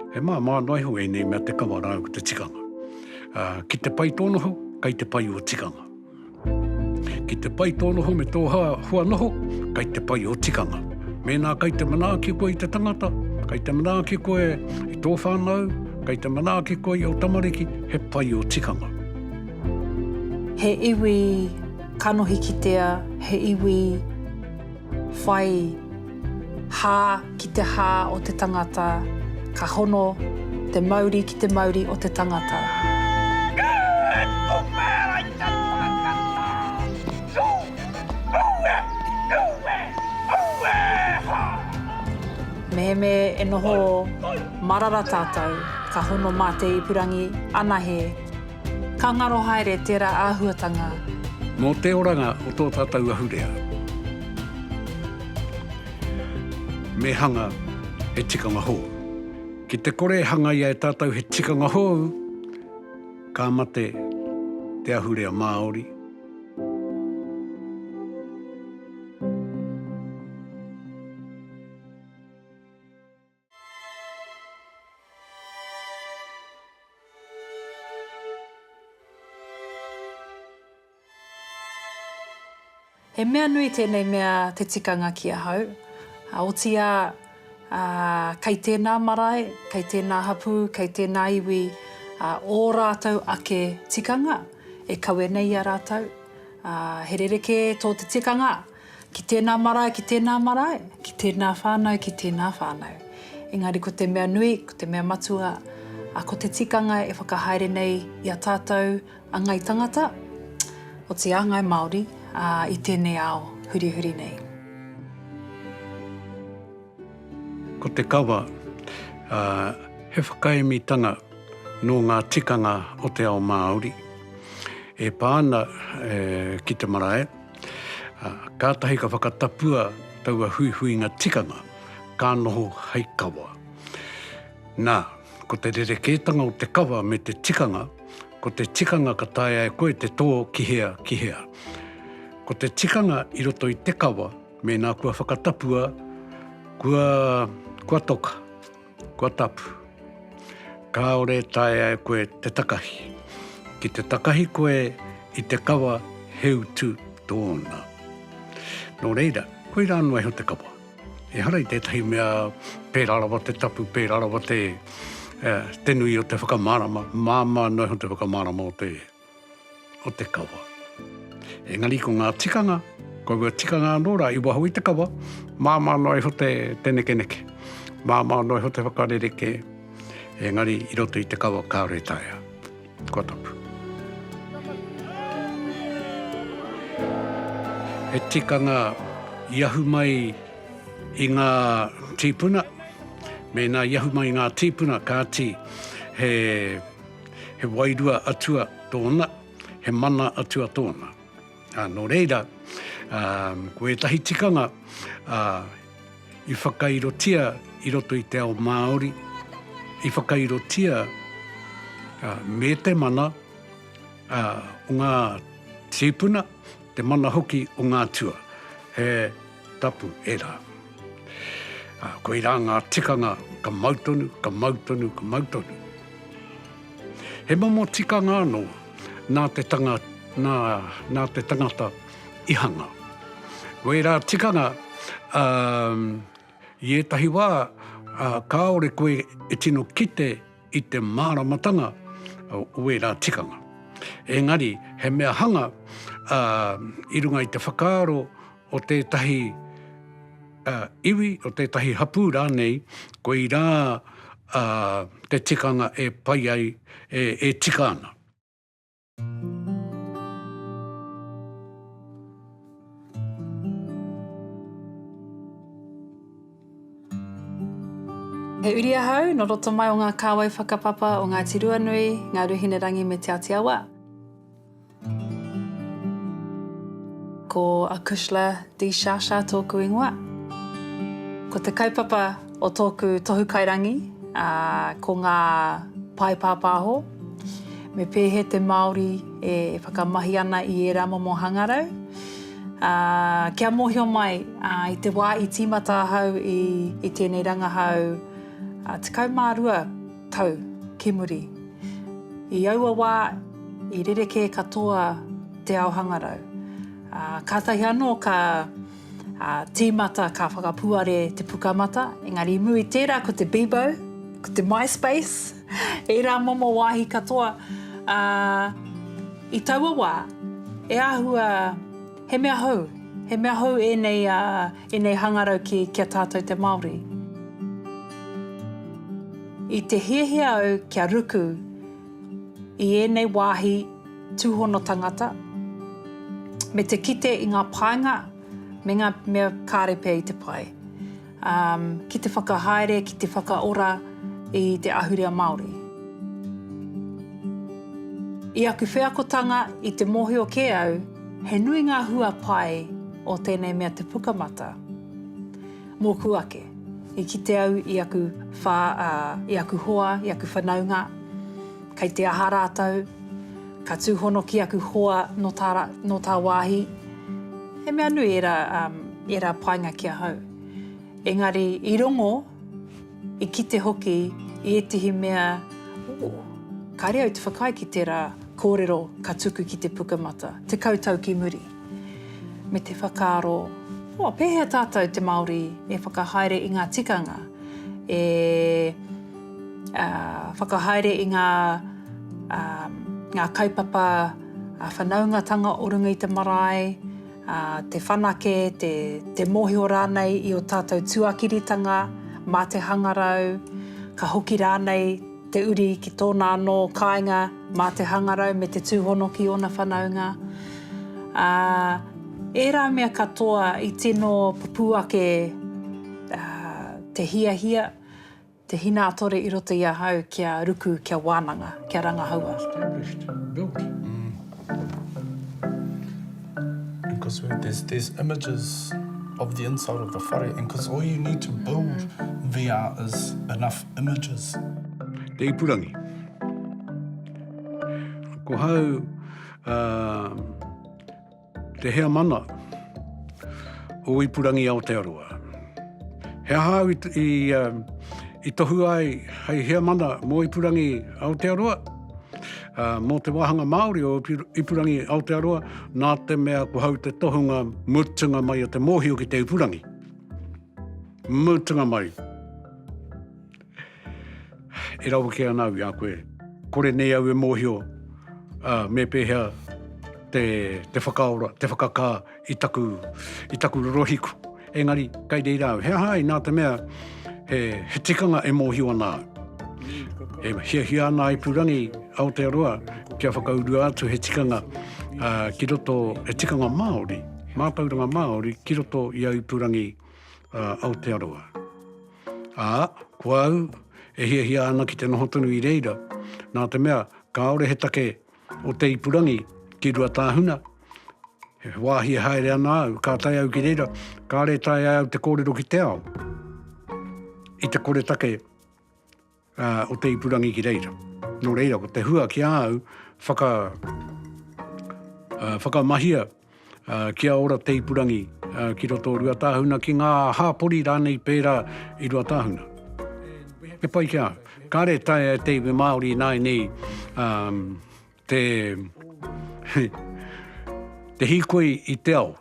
He māmā noa iho ēnei mea te kawa rāua ko te tikanga. Ki te pai tō noho, kei te pai ō tikanga. Ki te pai tō noho me tō hua noho, kei te pai ō tikanga. Mēnā kei te manaaki koe i te tangata, kei te manaaki koe i tō whānau, kei te manaaki koe i ō tamariki, he pai ō tikanga. He iwi kanohi kitea, he iwi. Whai hā ki te hā o te tangata, ka hono te mauri ki te mauri o te tangata. Mehemē e noho marara tātou, ka hono mā te ipurangi anahe. Ka ngaro haere tērā āhuatanga. Mō te oranga o tō tātou ahurea. Me hanga he tikanga hou. Ki te kore e hangaia e tātou he tikanga hou, ka mate te ahurea Māori. He mea nui tēnei mea te tikanga ki ahau, otīā kei tēnā marae, kei tēnā hapū, kei tēnā iwi ō rātou ake tikanga e kawe nei i a rātou. He rerekē tō te tikanga. Ki tēnā marae, ki tēnā marae, ki tēnā whānau, ki tēnā whānau. Engari ko te mea nui, ko te mea matua, a ko te tikanga e whakahaere nei i a tātou a Ngai Tangata, oti a Ngai Māori, ā, i tēnei ao hurihuri nei. Ko te kawa, ā, he whakaemitanga nō ngā tikanga o te ao Māori e pā ana ki te marae. Kātahi ka whakatapua taua huihuinga tikanga, ka noho hei kawa. Nā, ko te rerekētanga o te kawa me te tikanga, ko te tikanga ka taea e koe te tō ki hea, ki hea. Ko te tikanga i roto i te kawa, mēnā kua whakatapua, kua, kua toka. Kua tapu. Kāore e taea e koe te takahi. Ki te takahi koe i te kawa he utu tōna. Nō reira, koirā noa iho te kawa. Ehara i tētahi mea pērā rawa te tapu, pērā rawa te, uh, te nui o te whakamārama, māmā noa iho te whakamārama o te o te kawa. Engari ko ngā tikanga, ko aua tikanga anō rā i waho i te kawa, māmā noa iho te, te nekeneke, māmā noa iho te whakarerekē, engari i roto i te kawa kāore taea. Kua tapu. He tikanga i ahu mai i ngā tīpuna, mēnā i ahu mai i ngā tīpuna, kāti he He wairua atua tōna, he mana atua tōna. Ā, nō reira, ā, ko ētahi tikanga, ā, i whakairotia i roto i te ao Māori, i whakairotia, ā, me te mana, ā, o ngā tīpuna, te mana hoki o ngā atua. He. Tapu, e rā. Ā, koirā ngā tikanga ka mau tonu, ka mau tonu, ka mau tonu. He momo tikanga anō nā te tanga, nā, nā te tangata i hanga. Ko ērā tikanga, ā, i ētahi wā, ā, kāore koe e tino kite i te māramatanga o ērā tikanga. Engari, he mea hanga, ā, i runga i te whakaaro, o tētahi iwi, o tētahi hapū rānei, koirā te tikanga e pai ai, e tika ana. He uri ahau, nō roto mai o ngā kāwai whakapapa o Ngāti Ruanui, Ngāruhinerangi me Te Āti Awa. Ko a Kushla De Shasha tōku ingoa. Ko te kaupapa o tōku tohu kairangi ko ngā pae pāpāho, me pēhea te Māori e whakamahi ana i ērā momo hangarau. Kia mōhio mai, i te wā i tīmata ahau i tēnei rangahau 12, Tau ki muri, i aua wā i rerekē katoa te ao hangarau, ā, kātahi anō ka tīmata, ka whakapuare te pukamata, engari i muri i tērā ko te Bebo, ko te MySpace, ērā momo wāhi katoa, ā, i taua wā e āhua He mea hou, he mea hou ēnei, ēnei hangarau ki, ki a tātou te Māori. I te hiahia au kia ruku i ēnei wāhi tūhono tangata, me te kite i ngā painga me ngā mea kāre pea i te pae. Ki te whakahaere, ki te whakaora i te ahurea Māori. I aku wheakotanga, i te mōhio kē au, he nui ngā hua pai o tēnei mea te pukamata. Mōku ake, i kite au i aku whā, i aku hoa, i aku whanaunga. Kei te aha rātou? Ka tūhono ki aku hoa nō tā, nō tā wāhi. He mea nui ērā, um, ērā painga ki ahau. Engari, i rongo, i kite hoki i ētehi mea, ō, kāre au te whakaae ki tērā kōrero ka tuku ki te Pukamata, tekau tau ki muri. Me te whakaaro, ō, pēhea tātou te Māori e whakahaere i ngā tikanga, e. whakahaere i ngā kaupapa whanaungatanga o runga i te marae, te whanake, te mōhio rānei i ō tātou tuakiritanga mā te hangarau, ka hoki rānei te uri ki tōna anō kāinga mā te hangarau me te tūhono ki ōna whanaunga. Ērā mea katoa i tino pupū ake te hiahia, Te Hinaatore i roto i ahau kia ruku, kia wananga, kia rangahaua. Established, built. And cos where there's there's images of the inside of the whare and cos all you need to build VR is enough images. Te ipurangi. Ko hau, uh, Te heamana o Ipurangi Aotearoa. He aha au i, i tohu ai hei heamana mō Ipurangi Aotearoa? Uh, mō te wāhanga Māori o Ipurangi Aotearoa, nā te mea ko hau te tohunga mutunga mai o te mōhio ki te Ipurangi. Mutunga mai. E rawe kē ana au i a koe. Kore nei au e mōhio me pēhea te whakaora, te whakakā i taku rorohiku. Engari, kei reira au. He aha ai, nā te mea, he tikanga e mōhio ana au. E hiahia ana a ipurangi Aotearoa kia whakaurua atu he tikanga ki roto, he tikanga Māori, mātauranga Māori ki roto i a ipurangi Aotearoa. Ā, ko au, e hiahia ana ki te noho tonu i reira, nā te mea, kāore he take o te ipurangi ki Ruatāhuna, he wāhi e haere ana au, ka tae au ki reira, kāre e taea au te kōrero ki te ao, i te koretake. o te ipurangi ki reira. Nō reira, ko te hua ki a au, whaka, uh, whakamahia uh, kia ora te ipurangi uh, ki roto o Ruatāhuna, ki ngā hāpori rānei pērā i Ruatāhuna. He pai ki a au. Kāre tae e te iwi Māori nāi nei um, te, te hikoi i te ao.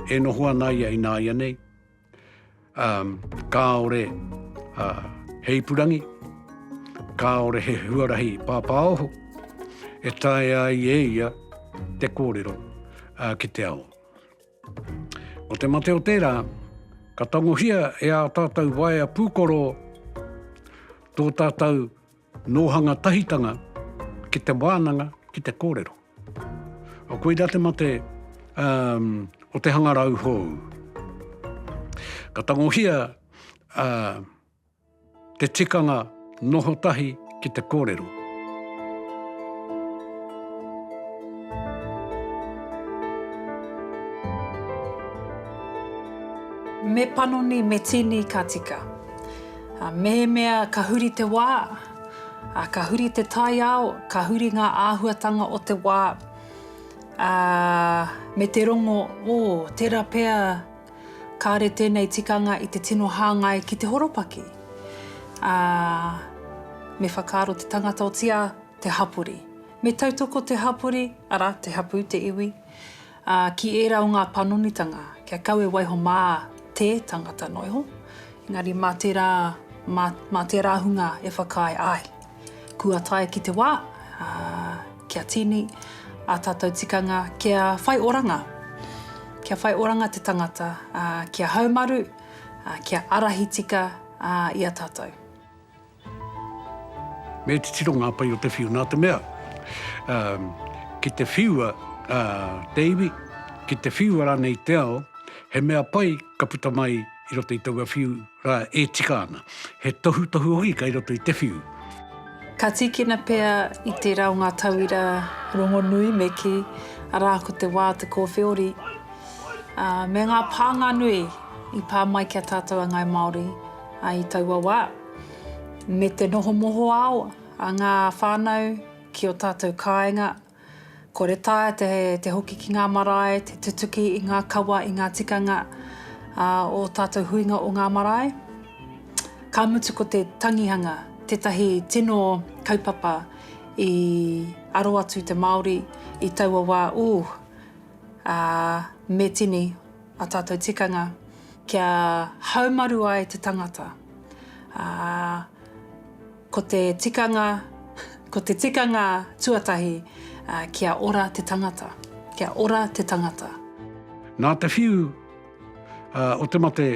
E noho ana ia i nāia nei. Um, kāore uh, he ipurangi, kāore he huarahi pāpāoho, e tae ai e ia te kōrero uh, ki te ao. O te mate o tērā, ka tangohia e ā tātou waea pūkoro tō tātou Nōhanga tahitanga ki te wānanga, ki te kōrero. Koirā te mate o te hangarau hou. Ka tangohia te tikanga noho tahi ki te kōrero. Me panoni, me tīni ka tika. Ā, mehemea ka huri te wā, ā, ka huri te taiao, ka huri ngā āhuatanga o te wā, ā, me te rongo, ō, tērā pea kāre tēnei tikanga i te tino hāngai ki te horopaki, ā, me whakaaro te tangata otīā te hapori. Me tautoko te hapori, arā, te hapū, te iwi, Ā, ki ērā o ngā panonitanga, kia kau e waiho mā te tangata noa iho, engari mā tērā, mā, mā tērā hunga e whakaae, āe, kua tae ki te wā, ā, kia tīni ā tātou tikanga kia whai oranga, kia whai oranga te tangata, ā, kia haumaru, ā, kia ārahi tika, ā, i a tātou. Me titiro ngā pai o te whiu nā te mea, ki te whiua te iwi, ki te whiua rānei te ao, he mea pai ka puta mai i roto i taua whiu rā e tika ana. He tohutohu hoki kei roto i te whiu. Ka tīkina pea i tērā o ngā tauira rongonui me kī, arā, ko te wā o te kōwhiori, ā, me ngā pānga nui i pā mai ki a tātou a Ngāi Māori i taua wā. me te noho mohoao a ngā whānau ki ō tātou kāinga, kore taea te, te hoki ki ngā marae, te tutuki i ngā kawa, i ngā tikanga a ō tātou huinga o ngā marae. Ka mutu ko te tangihanga tētahi tino kaupapa i aro atu te Māori i taua wā, ūh, ā, me tini. Ā tātou tikanga kia haumaru ai te tangata, ā, ko te tikanga, ko te tikanga tuatahi, ā, kia ora te tangata, kia ora te tangata. Nā te whiu o te mate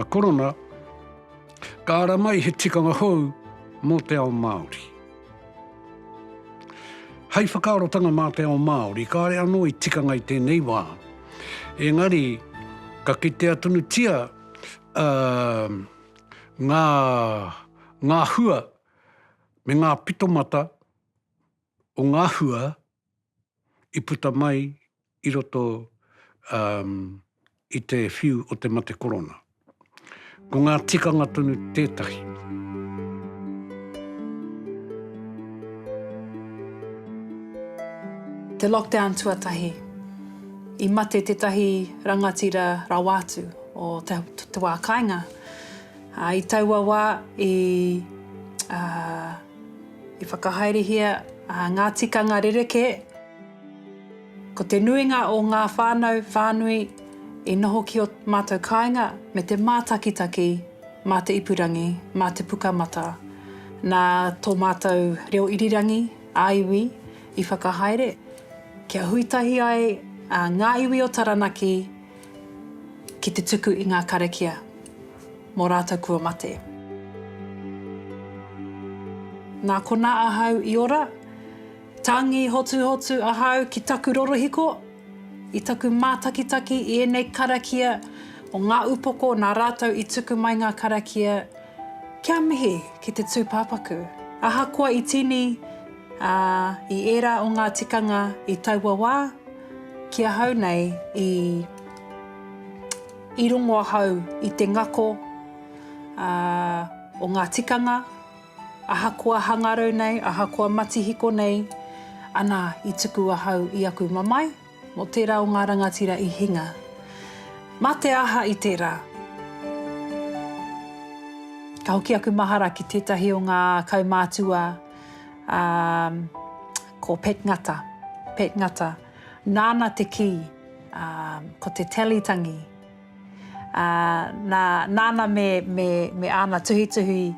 Korona, ka ara mai he tikanga hou mō te ao Māori. Hei whakaarotanga mā te ao Māori, kāre anō i tikanga i tēnei wā. Engari, ka kitea tonutia uh, ngā, ngā hua me ngā pitomata o ngā hua i puta mai i roto um i te whiu o te mate korona. Ko ngā tikanga tonu tētahi. Te lockdown tuatahi, i mate tētahi rangatira rawa atu o te, te wā kāinga. Uh, I taua wā i, uh, i whakahaerehia uh, ngā tikanga rereke Ko te nuinga o ngā whānau, whānui, i noho ki ō mātou kāinga me te mātakitaki mā te ipurangi, mā te puka matā, nā tō mātou reo irirangi, ā-iwi, i whakahaere, kia hui tahi ai ngā iwi o Taranaki ki te tuku i ngā karakia mō rātou kua mate. Nā konā ahau i ora. Tangi hotuhotu ahau ki taku rorohiko, i taku mātakitaki i ēnei karakia o ngā upoko nā rātou i tuku mai ngā karakia kia mihi ki te tūpāpaku. Ahakoa i tīni i ērā o ngā tikanga i taua wā, ki ahau nei i rongo ahau i te ngako o ngā tikanga, Ahakoa hangarau nei, ahakoa matihiko nei, ana i tuku ahau i aku mamae, mō tērā o ngā rangatira i hinga. Mā te aha i tērā? Ka hoki aku mahara ki tētahi o ngā kaumātua, ā, ko Pat Ngata, Pat Ngata, nāna te kī, ā, ko te Tally tangi. ā, nā, nāna me, me, me āna tuhituhi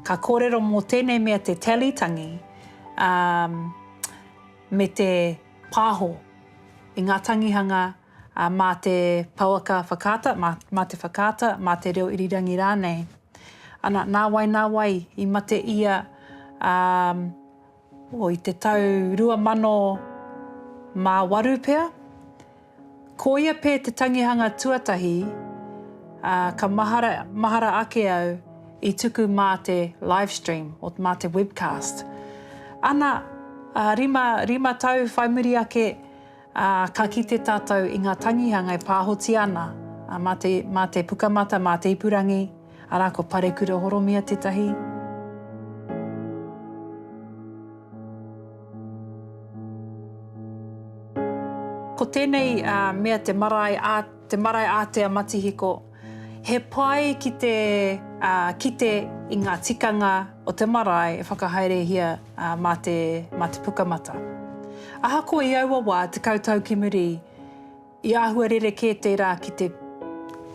ka kōrero mō tēnei mea te tally tangi, ā, me te pāho i ngā tangihanga, ā, mā te pouaka whakaata, mā, mā te whakaata, mā te reo irirangi rānei. Ana, nā wai, nā wai i mate ia, ā, O, i te tau 2008 pea, ko ia pea te tangihanga tuatahi, ā, ka mahara, mahara ake au i tuku mā te live stream, o, mā te webcast. Ana, ā, rima, rima tau whai muri ake, Ā, ka kite tātou i ngā tangihanga e pāhotia ana, ā, mā te, mā te Pukamata, mā te ipurangi, arā, ko Parekura Horomia tētahi. Ko tēnei, ā, mea te marae, ā, te marae ātea matihiko. He pai ki te kite i ngā tikanga o te marae e whakahaerehia mā te pukamata. Ahakoa i aua wā, tekau tau ki muri, i āhua rerekē tērā ki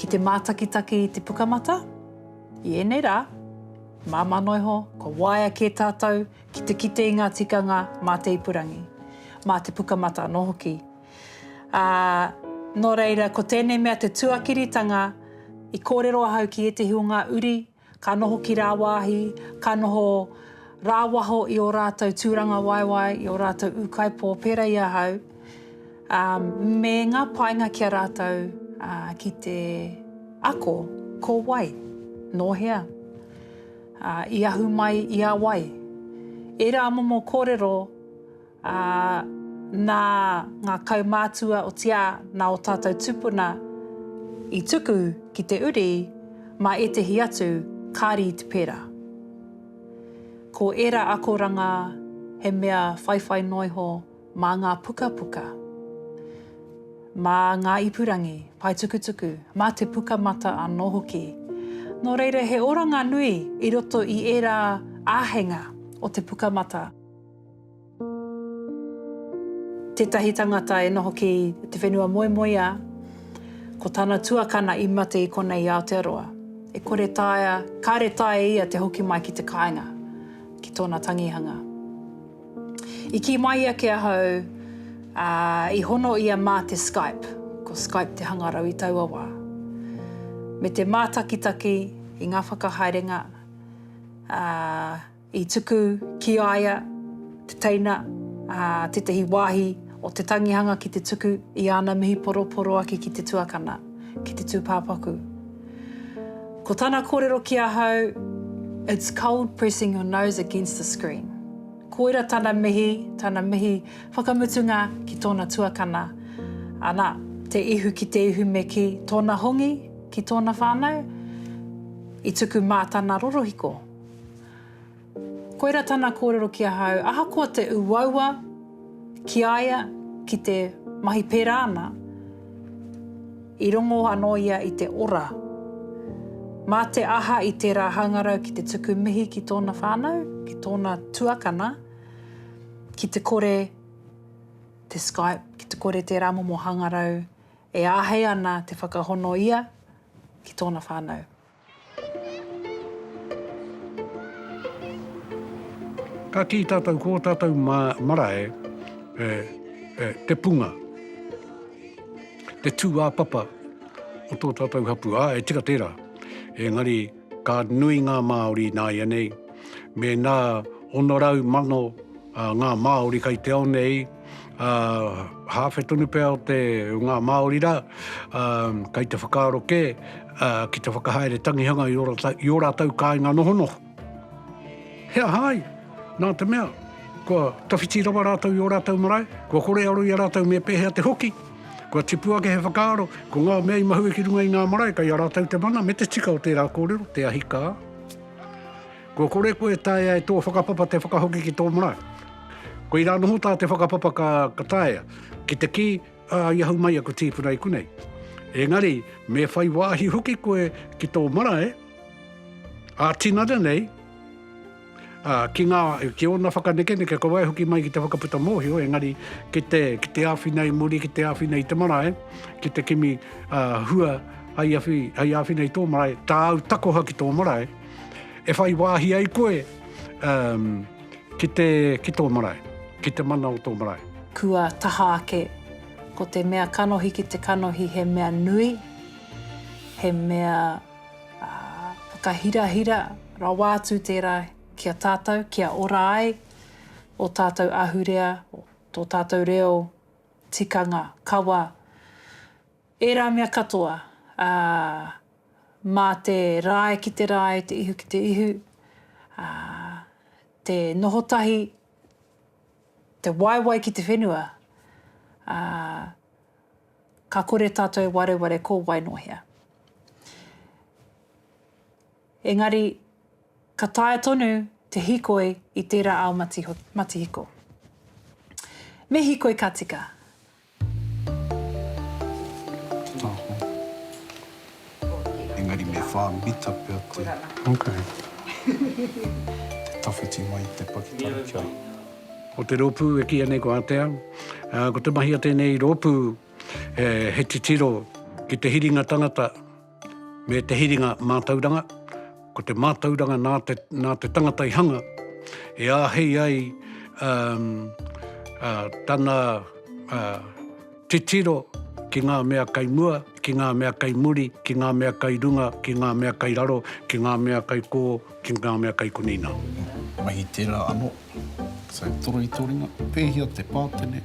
te mātakitaki i te pukamata. I ēnei rā, māmā noa iho, kua waea kē tātou ki te kite i ngā tikanga mā te ipurangi, mā te pukamata anō hoki. Ā, nō reira, ko tēnei mea te tuakiritanga, i kōrero ahau ki ētahi o ngā uri ka noho ki rāwāhi, ka noho rāwaho i ō rātou tūrangawaewae, i ō rātou ūkaipō pērā i ahau, ā, me ngā painga ki a rātou, ā, ki te ako, ko wai, nō hea, ā, i ahu mai i a wai. Ērā momo kōrero Ā, nā ngā kaumātua o Tia, nā ō tātou tūpuna i tuku ki te uri mā ētehi atu, kāri i te pērā. Ko ērā akoranga he mea whaiwhai noa iho mā ngā pukapuka, mā ngā ipurangi paetukutuku, mā te pukamata anō hoki. Nō reira, he oranga nui i roto i ērā āheinga o te pukamata. Tētahi tangata e noho ki te whenua moemoeā, ko tana tuakana i mate i konei i Aotearoa. E kore taea, kāre taea ia te hoki mai ki te kāinga, ki tōna tangihanga. I kī mai ia ki ahau, ā, i hono ia mā te Skype, ko Skype te hangarau i taua wā, me te mātakitaki i ngā whakahaerenga, ā, I tuku ki a ia te teina, ā, tētahi wāhi o te tangihanga ki te tuku i āna mihi poroporoaki ki te tuakana, ki te tūpāpaku. Ko tana kōrero ki ahau, It's cold pressing your nose against the screen. Koira tana mihi, tana mihi whakamutunga ki tōna tuakana. Ana, te ihu ki te ihu me kī, tōna hongi ki tōna whānau, i tuku mā tana rorohiko. Koira tana kōrero ki ahau, ahakoa te uaua ki a ia ki te mahi pērā ana, i rongo anō ia i te ora. Mā te aha i tērā hangarau ki te tuku mihi ki tōna whānau, ki tōna tuakana, ki te kore te Skype, ki te kore tērā momo hangarau e āhei ana te whakahono ia ki tōna whānau. Ka kī tātou ko ō tātou ma, marae e, e te punga, te tūāpapa o tō tātou hapū. Ā, e tika tērā. Engari, ka nui ngā Māori nāianei, mēnā 600 mano ngā Māori kei te ao nei, ā, hāwhe tonu pea o te, o ngā Māori rā, ā, kei te whakaaro kē, ā, ki te whakahaere tangihanga i ō rātou, i ō rātou kāinga nohonoho. He aha ai? Nā te mea, kua tawhiti rawa rātou i ō rātou marae, kua kore aro i a rātou me pēhea te hoki, kua tipu ake he whakaaro, ko ngā mea i mahue ki runga i ngā marae, kei a rātou te mana me te tika o tērā kōrero, te ahi kā. Kua kore koe e taea e tō whakapapa te whakahoki ki tō marae. Koirā noho tā te whakapapa ka, ka taea, ki te kī, ā, i ahu mai aku tīpuna i konei. Engari, me whai wāhi hoki koe ki tō marae, ā-tinana nei, ā, ki ngā, ki ōna whakanekeneke, ka waihoki mai ki te whakaputa mōhio, engari, ki te, ki te āwhina i muri, ki te āwhina i te marae, ki te kimi, ā, hua, hei awhi, hei āwhina i tō marae, tāu takoha ki tō marae, e whai wāhi ai koe um, ki, te, ki tō marae, ki te mana o tō marae. Kua taha ake, ko te mea kanohi ki te kanohi he mea nui, he mea uh, whakahirahira rawa atu tērā ki a tātou, kia ora ai o tātou ahurea, tō tātou reo, tikanga, kawa, Ērā mea katoa, ā, mā te rae ki te rae, te ihu ki te ihu, ā, te noho tahi, te waewae ki te whenua, ā, ka kore tātou e wareware ko wai nō hea. Engari, ka taea tonu te hikoi i tērā ao matihiko. Me hikoi ka tika. Engari me whā mita pea te tawhiti mai i te pakitara kia. Ko te rōpū e kīia nei ko Atea. Ko te mahi a tēnei rōpū he titiro ki te hiringa tangata. Me te hiringa mātauranga, ko te mātauranga nā te, nā te tangata i hanga, e āhei ai um, uh, tana uh, titiro ki ngā mea kai mua, ki ngā mea kai muri, ki ngā mea kai runga, ki ngā mea kai raro, ki ngā mea kai kō, ki ngā mea kai kunina. Mahi tērā anō. So, toro i tō ringa, pēhia te pātene,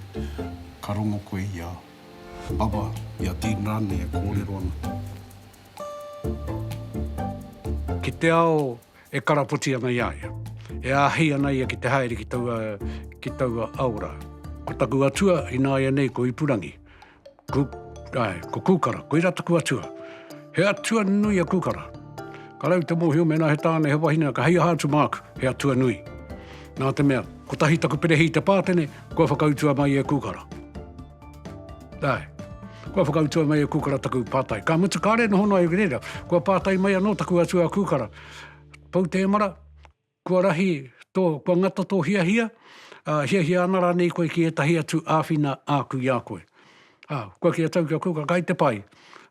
ka rongo koe i a Aba, i a Dean rānei e kōrero ana. Ki te ao e karapoti ana i a ia. E āhei ana ia ki te haere ki taua, ki taua aora. Ko taku atua ināianei ko Ipurangi. Ku, ae, ko Kūkara, koirā taku atua. He atua nui a Kūkara. Ka rau te mōhio mēnā he tāne, he wahine, ka hei aha atu māku, he atua nui. Nā te mea, kotahi taku perehī te pātene, Kua whakautua mai e Kukara. Ae. Kua whakautua mai e Kukara taku pātai. Ka mutu kāre noho noa iwi reira. Kua pātai mai anō taku atua Kukara. Pou Tēmara, kua rahi tō, kua ngata tō hiahia, ā, hiahia ana rānei koe ki ētahi atu āwhina āku i a koe? Ā, kua kī a Tau ki a Kukara, kai te pai.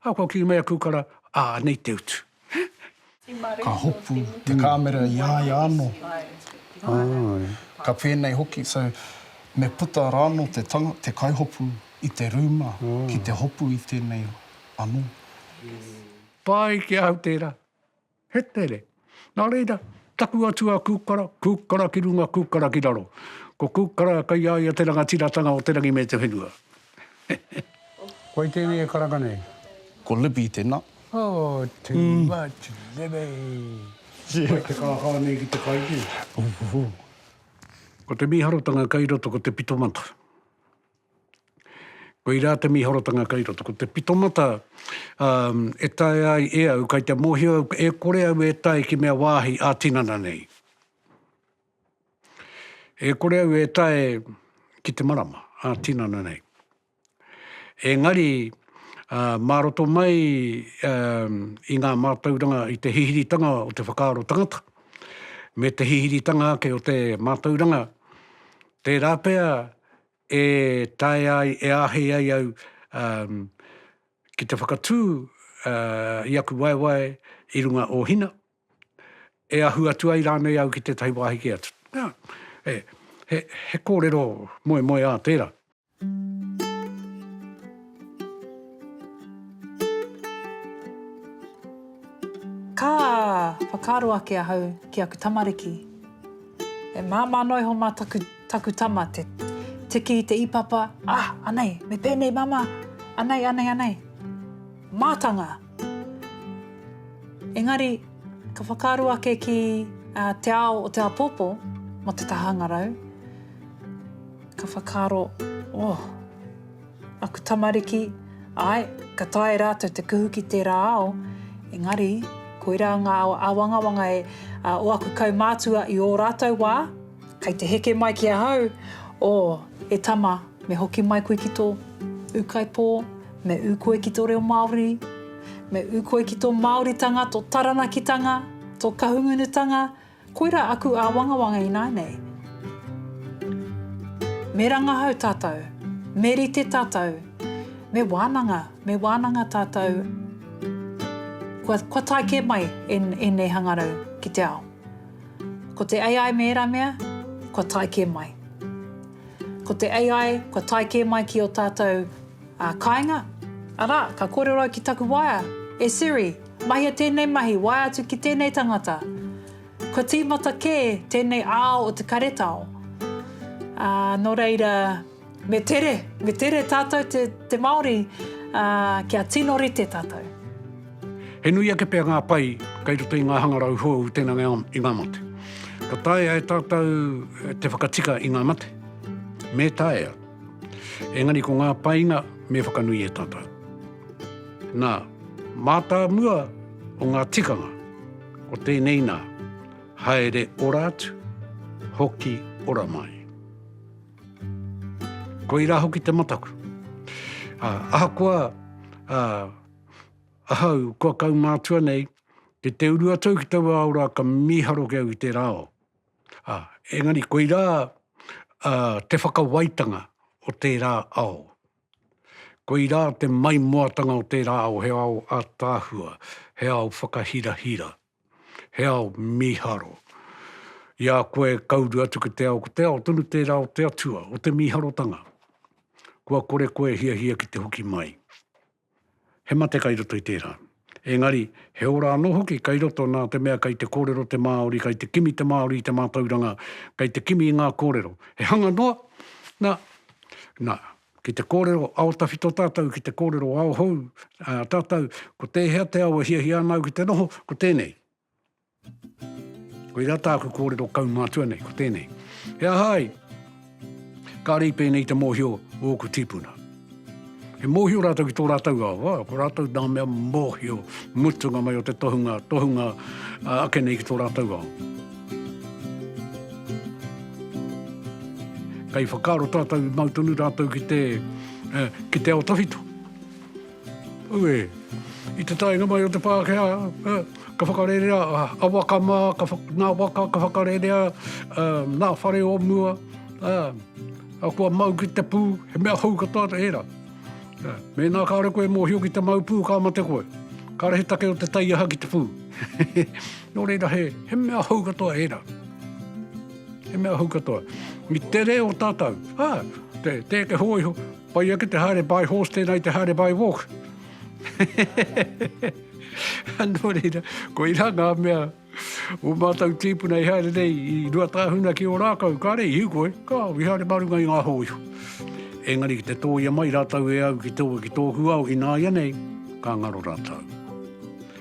Ā, kua kī mai a Kukara, ā, anei te utu. Ka hopu te kāmera i a ia anō, ka pēnei hoki. So, me puta rānō te tanga, te kaihopu i te rūma ki te hopu i tēnei anō. Pai ki ahau tērā. He tere. Nā reira, taku atua kūkara, kūkara ki runga, kūkara ki raro. Ko kūkara kei a ia te rangatiratanga o te rangi me te whenua. Wai tēnei e karanga nei? Ko Libby tēnā. Oh, too much, Libby! Whai te kākā nei ki te kaiti. Ko te mīharotanga kei roto ko te pitomata. Koirā te mīharotanga kei roto. Ko te pitomata e taea ai e au, kei te mōhio au, e kore au e tae ki mea wāhi ā-tinana nei. E kore au e tae ki te marama ā-tinana nei. Engari, mā roto mai i ngā mātauranga, i te hihiritanga o te whakaaro tangata, me te hihiritanga ake o te mātauranga, tērā pea e taea ai, e āhei ai au ki te whakatū i aku waewae i runga o Hina. e ahu atu ai rānei au ki tētahi wāhi kē atu. Nā, he, he, he kōrero moemoeā tērā. Ka whakaaro ake ahau ki aku tamariki, e māmā noa iho mā taku, taku tama te tiki i te ipapa, ah, anei, me pēnei māmā, anei, anei, anei. Mātanga! Engari, ka whakaaro ake ki te ao o te āpōpō mō te taha hangarau, ka whakaaro, oh, aku tamariki, āe, ka taea rātou te kuhu ki tērā ao, engari, koirā ngā āwangawanga o aku kaumātua i ō rātou wā, kei te heke mai ki ahau, oh, e tama, Me hoki mai koe ki tō ūkaipō, me ū koe ki tō reo Māori, me ū koe ki tō Māoritanga, tō Taranakitanga, tō Kahungunutanga, koirā aku āwangawanga ināianei. Me rangahau tātou, me rite tātou, me wānanga, me wānanga tātou, kua, kua tae kē mai e, ēnei hangarau ki te ao. Ko te AI me ērā mea, kua tae kē mai. Ko te AI, kua tae kē mai ki ō tātou kāinga. Arā, ka kōrero ki taku waea, E Siri, mahia tēnei mahi, waea atu ki tēnei tangata. Kua tīmata kē tēnei ao o te karetao. Ā, nō reira, me tere, me tere tātou te Māori, ā, kia tino rite tātou. He nui ake pea ngā pai kei roto i ngā hangarau hou tēnā ngā i ngā mate. Ka taea e tātou eh, te whakatika i ngā mate? Me taea. Engari ko ngā painga me whakanui e tātou. Nā, mātāmua o ngā tikanga, o tēnei nā, haere ora atu, hoki ora mai. Koirā hoki te mataku. Ah, ahakoa, ah, Ahau, kua kaumātua nei, ki te uru atu au ki taua ao rā, ka mīharo ki au ki tērā ao. Ā, engari koirā te whakawaitanga o tērā ao. Koirā te maimoatanga o tērā ao, he ao ātaahua, he ao whakahirahira, he ao mīharo. I a koe ka uru atu ki te ao, ko te ao tonu tērā o te Atua, o te mīharotanga. Kua kore koe e hiahia ki te hoki mai. He mate kai roto i tērā. Engari, he ora anō hoki kai roto nā te mea kai te kōrero te Māori, kai te kimi te Māori i te mātauranga, kai te kimi i ngā kōrero. He hanga noa, nā, nā, ki te kōrero ao tawhito tātou, ki te kōrero ao hou, ā, tātou, ko tēhea te ao e hiahia ana au ki te noho, ko tēnei. Koirā tāku kōrero kaumātua nei, ko tēnei. He aha ai? Ka rei pēnei te mōhio o ōku tīpuna. He mōhio rātou ki tō rātou awa, ko rātou nā mea mōhio mutunga mai o te tohunga, tohunga uh, ake nei ki tō rātou awa. Kai whakaaro tātou mau tonu rātou ki te, uh, ki te ao tawhito. Ue. I te taenga mai o te Pākehā, ka whakarerea a waka mā, nā waka ka whakarerea, nā whare o mua, a kua mau ki te pū, he mea hou katoa te ērā. Mēnā kāore koe e mōhio ki te mau pū, ka mate koe. Kāore he take o te taiaha ki te pū. Nō reira, he mea hou katoa ērā. He mea hou katoa. I te reo tātou, ā, te hōiho, Pai ake te haere by horse tēnā i te haere by walk. Nō reira, ko irā ngā mea o mātou tīpuna i haere nei i rua tāhuna ki o rākau, ka rei hiu koe, ka au i haere marunga i ngā hōiho. Engari ki te tōia mai rātou e au ki tō, ki tōku ao, ināianei, ka ngaro rātou.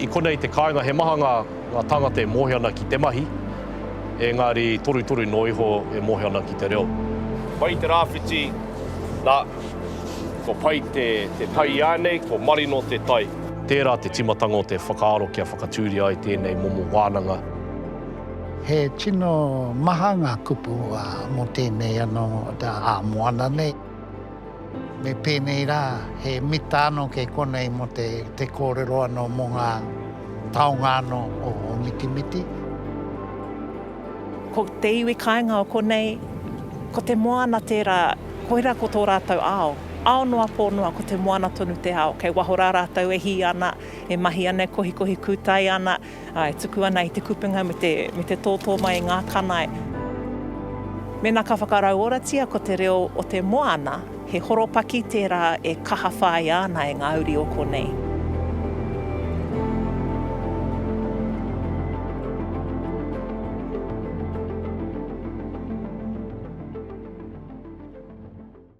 I konei te kāinga he maha ngā tāngata e mōhio ana ki te mahi, engari torutoru noa iho e mōhio ana ki te reo. Pai te rāwhiti, nā, ko pai te tai iānei, ko marino te tai. Tērā te tīmatanga o te whakaaro kia whakatūria ai tēnei momo wānanga. He tino maha ngā kupu mō tēnei anō ā-moana nei. Me pēnei rā, he mita anō kei konei mō te kōrero anō mō ngā taonga anō o Mitimiti. Ko te iwi kāinga o konei, ko te moana tērā, koirā ko tō rātou ao. Ao noa pō noa, ko te moana tonu te ao. Kei waho rā rātou e hī ana, e mahi ana, e kohikohi kūtai ana. Ā, e tuku ana i te kupenga me te, me te tōtō mai i ngā kanae. Mēnā ka whakarauoratia ko te reo o te moana, he horopaki tērā e kaha whāia ana e ngā uri o konei.